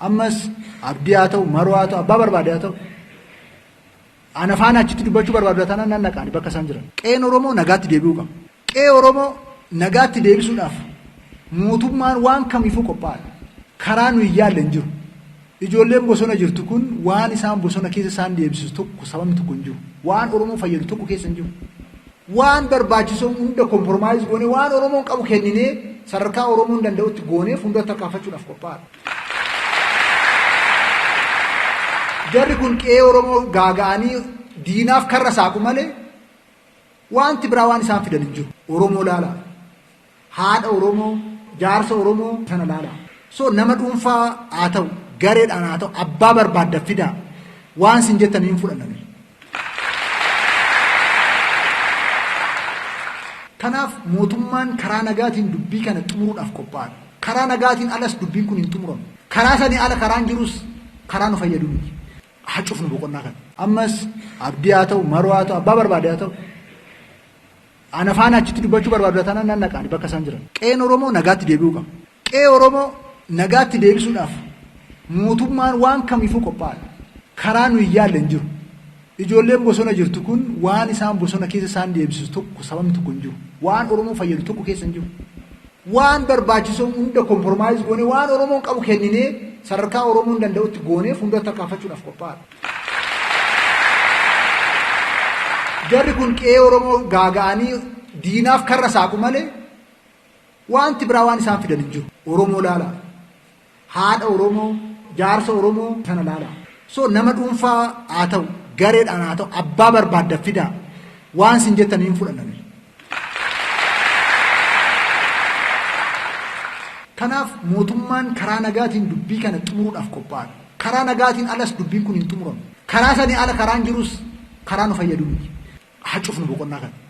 Ammas Abdii haa ta'u, Maroo haa ta'u, abbaa barbaade haa ta'u ana faana achitti dubbachuu barbaadu taanaan nan dhaqaani bakka isaan jiran. Qe'een Oromoo nagaatti deebi'uu qaba. Qe'ee Oromoo nagaatti deebisuudhaaf mootummaan waan kamiifuu qophaa'aadha. Karaa nu hin yaalle hin jiru. Ijoolleen bosona jirtu kun waan isaan bosona keessa isaan deebisisu tokko sababni tokko hin jiru. Waan Oromoo fayyadu tokko keessa hin jiru. Waan barbaachisoo hunda kompromaayiz goonee waan Oromoon qabu kenninee sadarkaa Oromoon danda'utti goonee fuulduratti tarkaanfachuudhaaf qophaa'aadha. Jarri kun qe'ee Oromoo gaaga'anii diinaaf karra saaqu malee wanti biraa waan isaan fidan hin jiru. Oromoo laala. Haadha Oromoo, jaarsa Oromoo sana laala. So nama dhuunfaa haa ta'u, gareedhaan haa ta'u, abbaa barbaadda fidaa waan sin jettan hin fudhanna. Kanaaf mootummaan karaa nagaatiin dubbii kana xumuruudhaaf qophaa'aadha. Karaa nagaatiin alas dubbiin kun hin xumuramu. Karaa sanii ala karaan jirus karaa nu fayyadu miti. Haa cufnu boqonnaa kana. Ammas Abdii haa ta'u, Maroo haa ta'u, abbaa barbaade haa ta'u ana faana achitti dubbachuu barbaadu taanaan nan dhaqa ani bakka isaan jiran. Qe'een Oromoo nagaatti deebi'uu qaba. Qe'ee Oromoo nagaatti deebisuudhaaf mootummaan waan kamiifuu qophaa'aadha. Karaa nu hin yaalle hin jiru. Ijoolleen bosona jirtu kun waan isaan bosona keessa isaan deebisisu tokko sababni tokko hin jiru. Waan Oromoo fayyadu tokko keessa hin jiru. Waan barbaachisu hunda kompromaayiz goonee waan Oromoon qabu kenninee sadarkaa Oromoon danda'utti goonee fuuldura tarkaanfachuudhaaf qophaa'aadha. Jarri kun qe'ee Oromoo gaaga'anii diinaaf karra saaqu malee Waanti biraa waan isaan fidan hin jiru. Oromoo laalaa. Haadha Oromoo, jaarsa Oromoo sana laalaa. So nama dhuunfaa haa ta'u, gareedhaan haa ta'u, abbaa barbaadda fidaa. Waan sin jettan hin fudhanna nuyi. Kanaaf mootummaan karaa nagaatiin dubbii kana xumuruudhaaf qophaa'aadha. Karaa nagaatiin alas dubbiin kun hin xumuramu. Karaa sanii ala karaan jirus karaa nu fayyadu miti. Haa cufnu boqonnaa kana.